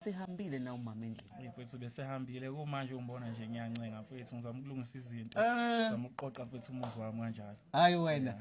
Sehambile na umama endlini. Hey mfethu besehambile kumanje umbona nje ngiyancenga mfethu ngizama ukulungisa izinto. Eh. Ngizama ukuqoqa mfethu umuzi wami kanjalo. Hayi wena.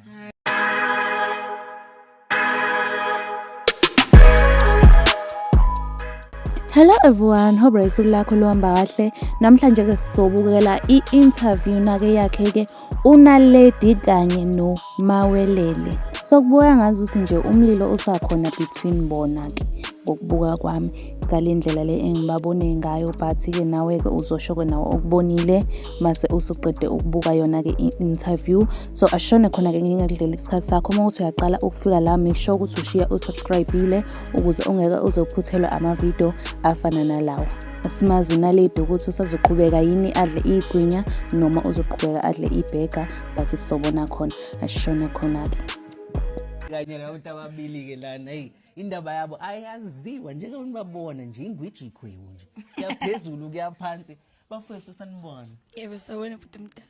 Hello everyone, hope usuku lakho luhamba kahle. Namhlanje ke sizobukela i-interview nake yakhe ke unaledi kanye nomawelele sokubukeka ngazi ukuthi nje umlilo usakhona between bona ke ngokubuka kwami ngale ndlela le engibabone ngayo but-ke nawe-ke uzosho-ke nawe okubonile mase usuqede ukubuka yona-ke i-interview so ashone khona-ke ngingakudlela isikhathi sakho uma ukuthi uyaqala ukufika la make sure ukuthi ushiya usubscribile ukuze ungeke uzophuthelwa amavidiyo afana nalawa asimazi unaledi ukuthi usazoqhubeka yini adle igwinya noma uzoqhubeka adle ibhega but sobona khona ashone khona-ke kanye nabantu ababili-ke lana eyi indaba yabo ayaziwa njengabantu babona nje ingwiji ikhwebu nje kuyaphezulu kuyaphansi bafowethu sanibona yebo sawona bhuti mdala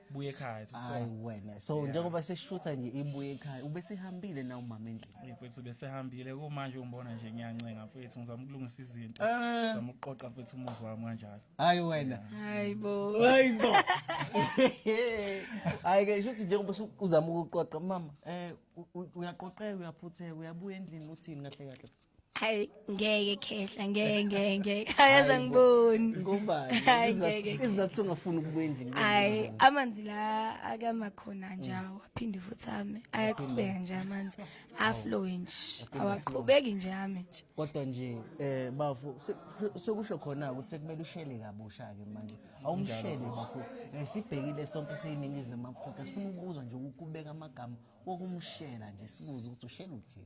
buye ekhaya so hayi wena so njengoba seshutha nje ibuye ekhaya ubesehambile na umama endlini Hey, mfethu besehambile kumanje umbona nje ngiyancenga mfethu ngizama ukulungisa izinto Eh. ngizama ukuqoqa mfethu umuzi wami kanjalo hayi wena hayi bo hayi bo hayi ke shuthi njengoba usu- uzama ukuqoqa mama eh u- u- uyaqoqeka uyaphutheka uyabuya endlini uthini kahle kahle Hayi ngeke khehla ngeke ngeke ngeke ayaza ngiboni. Ngobani? Hayi, Izizathu- ngeke. Izizathu songafuni ukubuya endlini. Hayi amanzi la akama khona njawo aphinde futhi ame ayaqhubeka nje amanzi aflow nje awaqhubeki nje ame nje. Kodwa nje eh bafu se- se- sekusho khona ukuthi kumele ushele kabusha ke manje. Awumshele bafu. Eh, Sibhekile sonke siyiningizimu Afrika sifuna ukuzwa nje ukubeka amagama wokumshela nje sibuze ukuthi ushela uthini.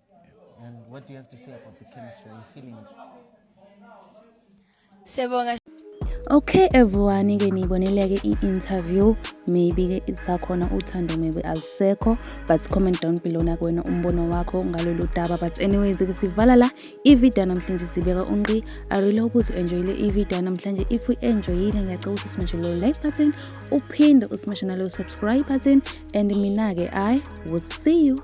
And what do you have to say about the chemistry? Are you feeling it? Siyabonga. Okay everyone ke niyibonile ke i-interview maybe ke isakhona uthando maybe alisekho but comment down below na kuwena umbono wakho ngalolu daba but anyways ke sivala la i-video namhlanje sibeka unqi i really hope ukuthi enjoyile i-video namhlanje if u enjoyile ngiyacela ukuthi usimashe lo like button uphinde usimashe nalo subscribe button and mina ke i will see you